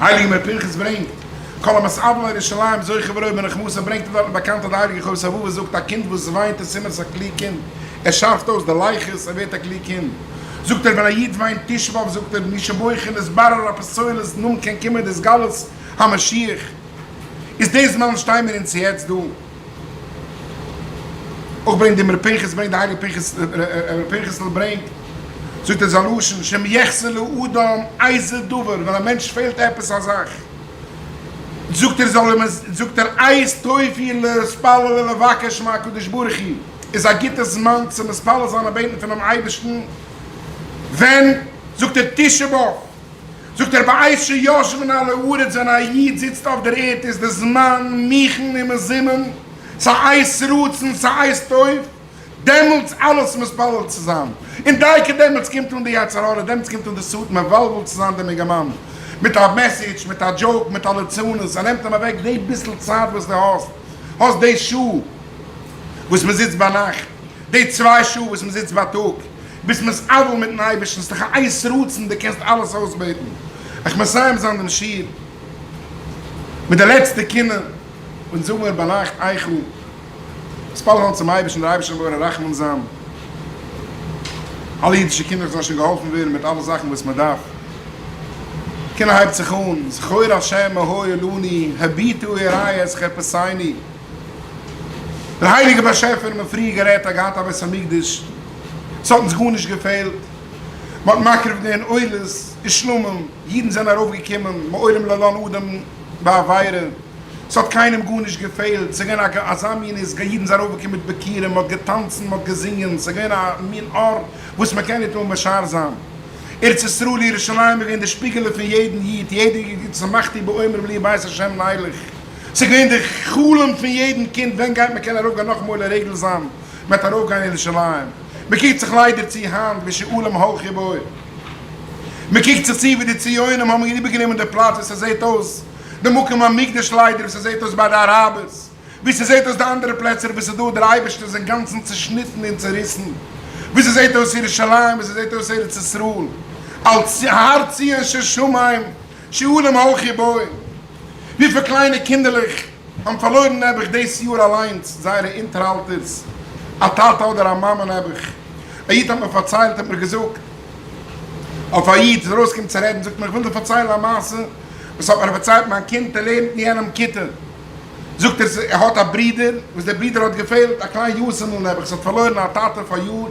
הייליגער מוה פנחס ברענגט, כל המת אבלו על ירושלים זוכה וראה בנחמתו, ברענגט ער דארט באקאנט אז די הייליגע חובת הלבבות זאגט, א קינד וואס וויינט איז סימן עס איז א קלוג קינד, ער שארפט אויס די לייכעס, ער ווערט א קלוג קינד. זאגט ער ווען א איד וויינט תשעה באב זאגט ער, מי שבוכה נתברר אפס צולת נאמן כן קומען התגלות המשיח, איז די זמן שטיי מיר אונז יעצט דא. אויך ברענגט דעם ר' פנחס ברענגט די הייליגע פנחס ר' פנחס'ל ברענגט זאגט ער זיין לשון שאם יחסר לאדם איזה דבר ווען א מענטש פעלט עפעס א זאך זאגט ער זאל אים זאגט ער עת טוב היא להתפלל ולבקש מהקדוש ברוך הוא איז א גוטע זמן צו מתפלל זיין און בעטן פונעם אייבערשטן ווען זאגט ער תשעה באב זאגט ער בעת שיושבין על הארץ ווען א איד זיצט אויף דער ערד איז די זמן מכין ומזומן ס'הייסט רצון ס'הייסט טוב דעמאלטס אלעס מספלל צו זיין און דייקא דעמאלטס קומט אן די יצר הרע דעמאלטס קומט אן די סוט מבלבל צו זיין דעם אינגערמאן מיט א מעסעדזש מיט א דזשאוק מיט א ליצנות ער נעמט אים אוועק די ביסל צייט וואס די האסט האסט די שעה וואס מ'זיצט ביינאכט די צוויי שעה וואס מען זיצט בייטאג ביז מען איז אבל מיטן אייבערשטן, ס'דאך א עת רצון, דו קענסט אלעס אויסבעטן. איך מסיים זיין דעם שיעור מיט די לעצטע קינה, און זאג מיר ביינאכט איך האב מתפלל געווען צום אייבערשטן, דער אייבערשטער זאל ווערן רחמן זיין, אלע אידישע קינדער זאלן שוין געהאלפן ווערן מיט אלע זאכן וואס מען דארף. קינה הייבט זיך אן, זכור השם מהוי עולני, הביטו הערה את חפשיני. דער הייליגער באשעפער האט מען פריער גערעדט אז געהאט א בית המקדש, עס האט אונז גארנישט געפעלט, מען האט מקריב געווען עולות ושלמים, אידן זענען ארויף געקומען מעולם לא לן אדם בעבירה, עס האט קיינעם גארנישט געפעלט, עס איז געווען אזא מין איז גא, אידן זענען ארויף געקומען מיט ביכורים, מען האט געטאנצן, מען האט געזינגען, עס איז געווען א מין אור וואס מען קען ניט אן משער זיין, ארץ ישראל ירושלים איז געווען די שפיגעלע פון יעדן איד, יעדער איד האט געזאגט שמחתי בעומר ולי בית השם ניילך. ס'איז געווען די חלום פון יעדן קינד ווען גייט מען קענען ארויפגיין נאכאמאל לרגל זיין מען וועט ארויפגיין אין ירושלים, מען קוקט זיך ליידער צו היינט ווי שאולים הלכו בו, מען קוקט זיך צו ווי די ציונים האבן איבערגענומען די פלאץ ווי ס'זעט אויס די מקום המקדש ליידער ווי ס'זעט אויס ביי די אראבערס ווי ס'זעט אויס די אנדערע פלעצער וואו ס'דא דער אייבערשטער איז אינגאנצן צושניטן און צוריסן ווי ס'זעט אויס ירושלים ווי ס'זעט אויס ארץ ישראל אלס הר ציון של שמים. שיעורים הויך געבויען. וויפיל קליינע קינדערלעך האבן פארלוירן נעבעך דאס יאר אליינס זייערע אונטערהאלטערס, א טאטע אדער א מאמע נעבעך. א איד האט מיר פארציילט, האט מיר געזאגט, אויף א איד איז ארויסגעקומען צו רעדן, זאגט מיר איך וויל דיר פארציילן א מעשה וואס האט מיר פארציילט מיין קינד, ער לערנט אין יענעם כיתה, זאגט ער ער האט א ברודער וואס דער ברודער האט געפעלט א קליין יאסעמעל נעבעך ס'האט פארלוירן א טאטע פאריאר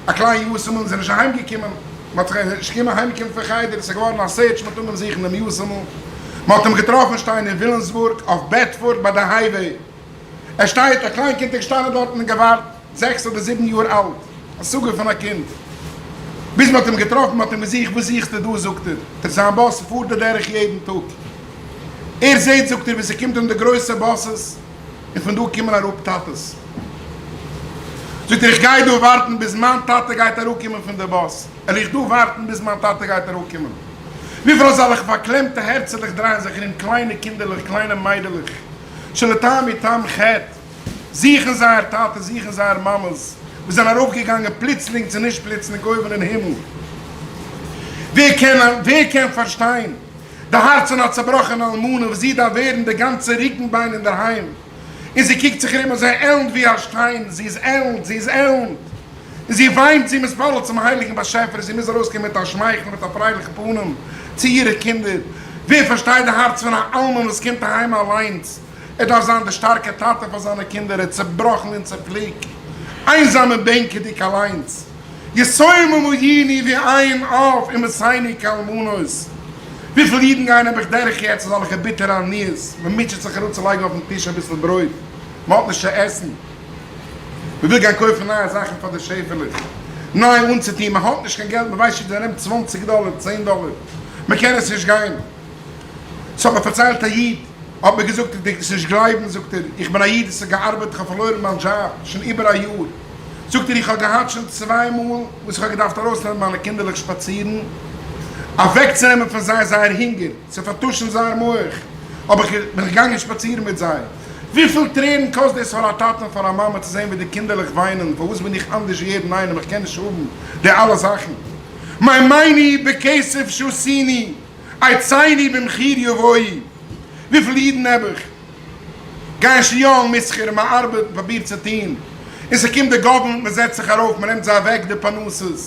א קליין יאסעמעל און ס'איז נישט אהיים געקומען מ'האט זיך נישט געקומען אהיים קומען פון חדר ס'איז געווארן א סערטש מיט אנגעבן זוכן דעם יאסעמעל מ'האט אים געטראפן שטיין אין וויליאמסבורג אויף בעדפארד ביי די הייוועי ער שטייט א קליין קינד איז געשטאנען דארטן און געווארט. זעקס אדער זיבן יאר אלט, השגה פון א קינד. ביז מען האט אים געטראפן, מ'האט אים געזוכט, וואס זוכסטו דא זאגט ער, זיין באס פארט די דרך יעדן טאג, ער זעט זאגט ער ווי ס'קומט אים די גרויסע באסעס, און פון דא קומען אראפ טאטעס, זאגט ער איך גיי דא ווארטן ביז מיין טאטע גייט אראפקומען פון די באס, על איך דא ווארטן ביז מיין טאטע גייט אראפקומען, וויפיל אזעלכע פארקלעמטע הערצעלעך דרייען זיך ארום קליינע קינדערלעך קליינע מיידלעך שלא טעם מטעם חטא. זוכן זייער טאטע, זוכן זייער מאמעס, וואס זענען ארויפגעגאנגען פלוצלינג צו נישט פלוצלינג אויבן אין הימל. ווער קען, ווער קען פארשטיין די הארץ פון א צעבראכענע אלמנה, וואס זי דארף ווערן די גאנצע רוקנביין אינדערהיים, און זי קוקט זיך ארום און זי עלנט ווי א שטיין, זי איז עלנט, זי איז עלנט, און זי וויינט, זי מתפלל צום הייליגן באשעפער, זי מוז ארויסקומען מיט א שמייכל און מיט א פרייליכן פנים צו אירע קינדער. ווער פארשטייט די הארץ פון א אלמן וואס קומט אהיים אליינס, ער דארף זיין די שטארקע טאטע פאר זיינע קינדער, ער איז צעבראכן און צעפליקט, איינזאם און בענקעדיג אליינס, יסוים ומאיני ואין אב אם עשיני כאלמנות, וויפיל אידן גייען נעבעך דורך יעצט אזעלכע ביטערע עניות, מען מוטשעט זיך אראפצולייגן אויפן טיש אביסל ברויט, מען האט נישט צו עסן, מען וויל גיין קויפן נייע זאכן פאר די שעפעלעך, ניי אנצוטון, מען האט נישט קיין געלט, מען ווייסט נישט ווי ארום צוואנציג דאלער, צען דאלער, מען קען עס נישט גיין. ס'האט מיר פארציילט א איד, האט מיר געזאגט איך דערק עס נישט גלייבן, זאגט ער, איך בין א איד וואס האט געארבעט, איך האב פארלוירן מיין דזשאב שוין איבער א יאר, זאגט ער, איך האב געהאט שוין צוויי מאל וואס איך האב געדארפט ארויסנעמען מיינע קינדערלעך שפאצירן, אוועקצונעמען פון זיי זייער הונגער, צו פארטושן זייער מח, האב איך, בין איך געגאנגען שפאצירן מיט זיי, וויפיל טרערן קאסט דאס פאר א טאטע און פאר א מאמע צו זען ווי די קינדערלעך וויינען, פארוואס בין איך אנדערש ווי יעדן איינעם, איך קען נישט האבן די אלע זאכן, מיין מייני בכסף שעשיני. עצייני במחיר יבואי, וויפיל אידן האב איך? גייען שיאלן מיט שכר און מען ארבעט און פארבירט צו טון, און ס'קומט די גאווערמענט מען זעצט זיך ארויף מען נעמט זיי אוועק די פרנסות,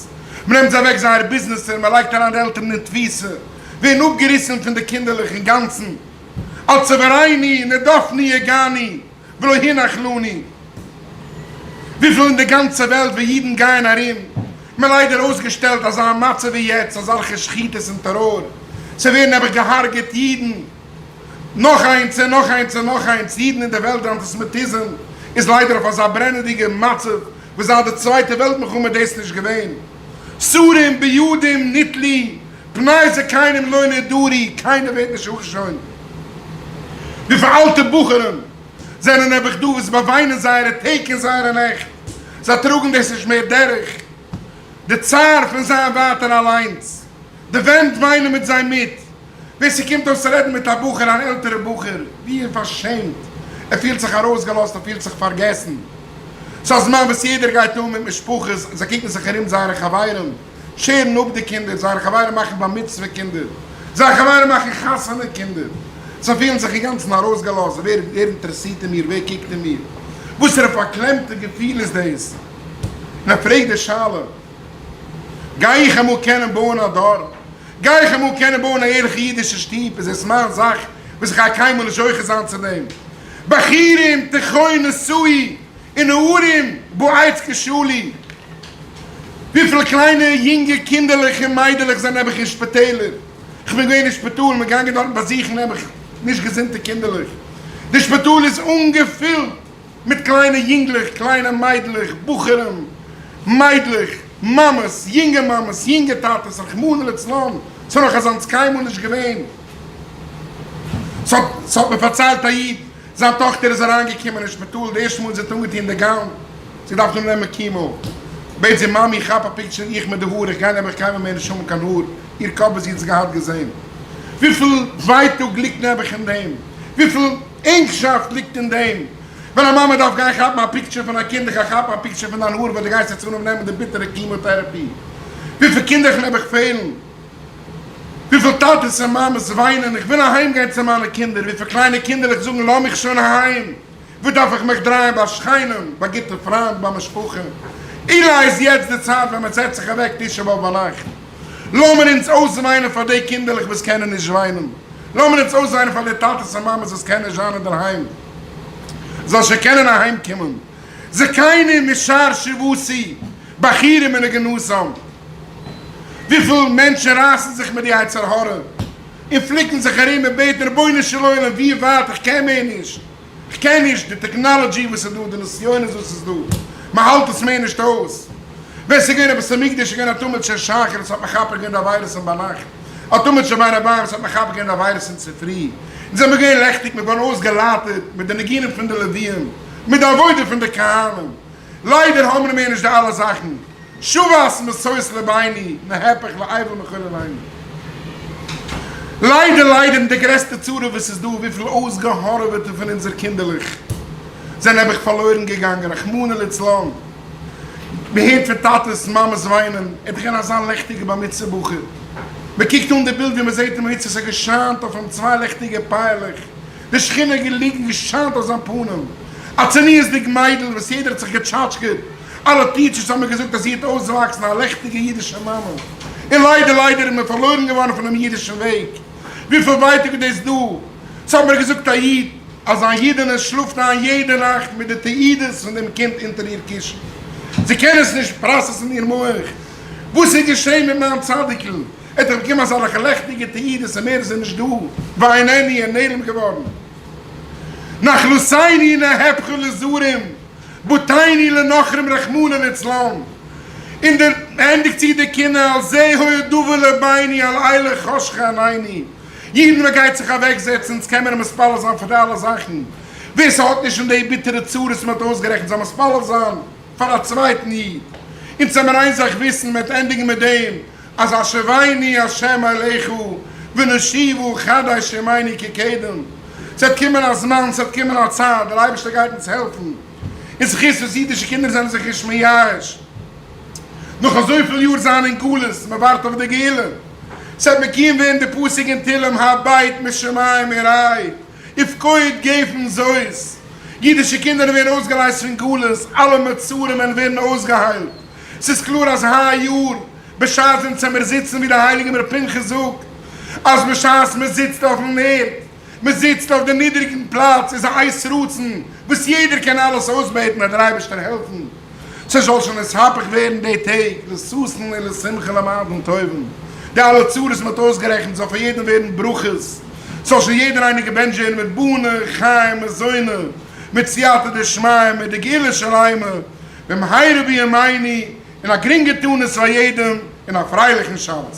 מען נעמט זיי אוועק זייערע ביזנעסער מען לייגט אריין די עלטערן אין תפיסה, ווערן אפגעריסן פון די קינדערלעך אינגאנצן, אלס עברייני נרדפני הגעני. ולא הנח לנו. וויפיל אין די גאנצע וועלט ווי אידן גייען ארום, מען ליידער אויסגעשטעלט אזא מצב ווי יעצט, אזאלכע שחיטות און טעראר, ס'ווערן נעבעך געהארגעט אידן, נאך איינס און נאך איינס און נאך איינס, אידן אין די וועלט, די אנטיסעמיטיזם איז ליידער אויף אזא ברענעדיגע מצב ווי זייט די צווייטע וועלט מלחמה איז דאס נישט געווען, סורים בידים ניתלי פני זה קיינעם לא נדרי, קיינער ווערט נישט אנגעשוינט. וויפיל אלטע בחורים זענען נעבעך דא וואס באוויינען זייערע טעג און זייערע נעכט, זיי טראגן דאס נישט מער דורך, די צער פון זיין ווייטער אליינס, די ווענט וויינען מיט זיי מיט, ווער ס'קומט אויס רעדן מיט א בחור, אן עלטערע בחור, ווי ער פארשעמט, ער פילט זיך ארויסגעלאזט, ער פילט זיך פארגעסן, ס'אזמאן וואס יעדער גייט אן מיט משפחות, זיי קוקן זיך ארום זייערע חברים. שערן אפ די קינדער, זייערע חברים מאכן בר מצוה קינדער, זייערע חברים מאכן חתונה קינדער, זיי פילן זיך אינגאנצן ארויסגעלאזט, ווער אינטערעסירט אין מיר, ווער קוקט אין מיר, וואסערע פארקלעמטע געפיל איז דאס, און ער פרעגט די שאלה, גיי איך אמאל קענען בויען א דור, גיי איך אמאל קענען בויען א ערליכע אידישע שטוב, איז עס מיין זאך וואס איך גיי קיינמאל נישט זוכה זיין צו דעם, בחורים תחיו נשואי. און נערים בעת כשלים, וויפיל קליינע יונגע קינדערלעך און מיידלעך זענען נעבעך אין שפיטעלער, כ'בין געווען אין שפיטאל, מ'איז געגאנגען דארטן באזוכן נעבעך נישט געזונטע קינדערלעך, די שפיטאל איז אנגעפילט מיט קליינע יונגלעך, קליינע מיידלעך, בחורים, מיידלעך, מאמעס, יונגע מאמעס, יונגע טאטעס, רחמנא לצלן, ס'איז נאך אזאנס קיינמאל נישט געווען, ס'האט מיר פארציילט א איד, זיין טאכטער איז אריינגעקומען אין שפיטאל די ערשטע מאל זי האט אנגעטון די גאון, זי דארף נאר נעמען קימאו, בעט זי מאמי כאפ א פיקטשער איך מיט די האר, איך גיי נעבעך קיינמאל מער נישט האבן קיין האר, איר קאפ וואס זי האט עס געהאט געזען, וויפיל ווייטאג ליגט נעבעך אין דעם, וויפיל ענגשאפט ליגט אין דעם, ווען א מאמע דארף גיין כאפן א פיקטשער פון א קינד, איך גיי כאפן א פיקטשער פון דיין האר וואס די גייסט יעצט אנהויבן נעמען די ביטערע קימאו טערעפי, וויפיל קינדער איך נעבעך פעלן. וויפיל טאטעס און מאמעס וויינען איך וויל אהיים גיין צו מיינע קינדער, וויפיל קליינע קינדערלעך זאגן לאז מיך שוין אהיים, וואו דארף איך מיך דרייען ביי שכנים, ביי גוטע פריינט, ביי משפחה, אולי איז יעצט די צייט ווען מען זעצט זיך אוועק תשעה באב ביינאכט, לאמיר אונז אויסוויינען פאר די קינדערלעך וואס קענען נישט וויינען, לאמיר אונז אויסוויינען פאר די טאטעס און מאמעס וואס קענען נישט וויינען דערהיים זאל שוין קענען אהיים קומען. זקנים משאר שבטי בחורים און נגנזים, וויפיל מענטשן רייסן זיך מיט די יצר הרע און פליקן זיך ארום און בעטן רבונו של עולם ווי ווייט איך קען מער נישט, איך קען נישט, די טעקנאלעדזשי וואס איז דא, די נסיונות וואס איז דא, מען האלט עס מער נישט אויס, ווען ס'איז געווען א בית המקדש איז געווען א טומל של שחרית האט מחפה געווען די עבירות'ן ביינאכט, א טומל של בין הבארץ האט מחפה געווען די עבירות אין צופרי, אונז זעמיר געווען לעכטיג, מיר ווארן אויסגעלייטערט מיט די ניגונים פון די לוויים. מיט די עבודה פון די קהלים, ליידער האמער מער נישט די אלע זאכן, שובעת מסעות לביני מהפך לאייוועלט מכל עולמי. ליידער ליידער און די גרעסטע צרה וואס איז דא, וויפיל אויסגעהארעוועטע פון אונזער קינדערלעך זענען נעבעך פארלוירן געגאנגען, רחמנא ליצלן, מען הערט פון טאטעס מאמעס וויינען, ער איז געווען אזא לעכטיגע בר מצוה בחור, מען קוקט אן די בילד ווי מען זעט אים היצעס ער געשיינט אויף אים צוויי לעכטיגע פייערלעך, די שכינה האט געליגן געשיינט אויף זיין פנים, א צניעות'דיג מיידל וואס יעדער האט זיך געטשאטשקעט, אלע טיטשערס האבן געזאגט אז זי האט אויסוואקסן א לעכטיגע אידישע מאמע, און ליידער ליידער איז מען פארלוירן געווארן פונעם אידישן וועג, וויפיל ווייטאג איז דאס דא, ס'האט מיר געזאגט א איד אז זיין אידענע שלאפט איין יעדע נאכט מיט די תעודות פון דעם קינד אונטער איר קישן, זי קען עס נישט פראסעסן אין איר מח, וואס איז געשען מיט מיין צדיק'ל? ער האט דאך באקומען אזאלעכע לעכטיגע תעודות און מער איז ער נישט דא, ואין עני, ער נעלם געווארן. נחלתיני נהפכו לזרים, בתיני לנוכרים רחמנא לצלן. און דער ענדיגט זיך די קינה, על זה היה דבר לביני, על אלה חשכה עניני. יעדן ווען ער גייט זיך אוועק זעצן, אונז קען מען אים מתפלל זיין פאר די אלע זאכן. ווער ס'האט נישט פון די ביטערע צרות וואס מען האט אויסגערעכנט זאל מתפלל זיין פאר א צווייטן איד. אונז העמיר איין זאך וויסן, מען וועט ענדיגן מיט דעם, אז השבעיני השם אליך ונשיבו חדש ימינו כקדם, ס'וועט קומען א זמן, ס'וועט קומען א צייט, דער אייבערשטער גייט אונז העלפן, און זכות וואס אידישע קינדער זענען זיך נישט מייאש נאך אזויפיל יאר זיין אין גלות, מ'ווארט אויף די גאולה, ס'וועט מקוים ווערן די פסוק אין תהלים הבית משמים עירי. איף קאוד געפן זאוס, אידישע קינדער ווערן אויסגעלייזט פון גלות, אלע מצרים וועלן ווערן אויסגעהיילט, ס'איז קלאר אז היי יאר בשעת אונז העמיר זיצן ווי דער הייליגער ר' פנחס זאגט אז בשעת מען זיצט אויפן ערד, מען זיצט אויף די נידעריגן פלאץ איז א עת רצון וואס יעדער קען אלעס אויסבעטן וועט דער אייבערשטער העלפן. ס'זאל שוין עס הפך ווערן די טעג לששון און לשמחה למדן טובים, די אלע צרות מען האט אויסגערעכנט זאל פאר יעדעם ווערן ברכות, ס'זאל שוין יעדער איינער געבענטשט ווערן מיט בנה, חיים, מזונות, מיט סייעתא דשמיא, מיט די גאולה שלימה, במהרה בימינו, און א גרינגע תענית פאר יעדעם, און א פרייליכן שבת.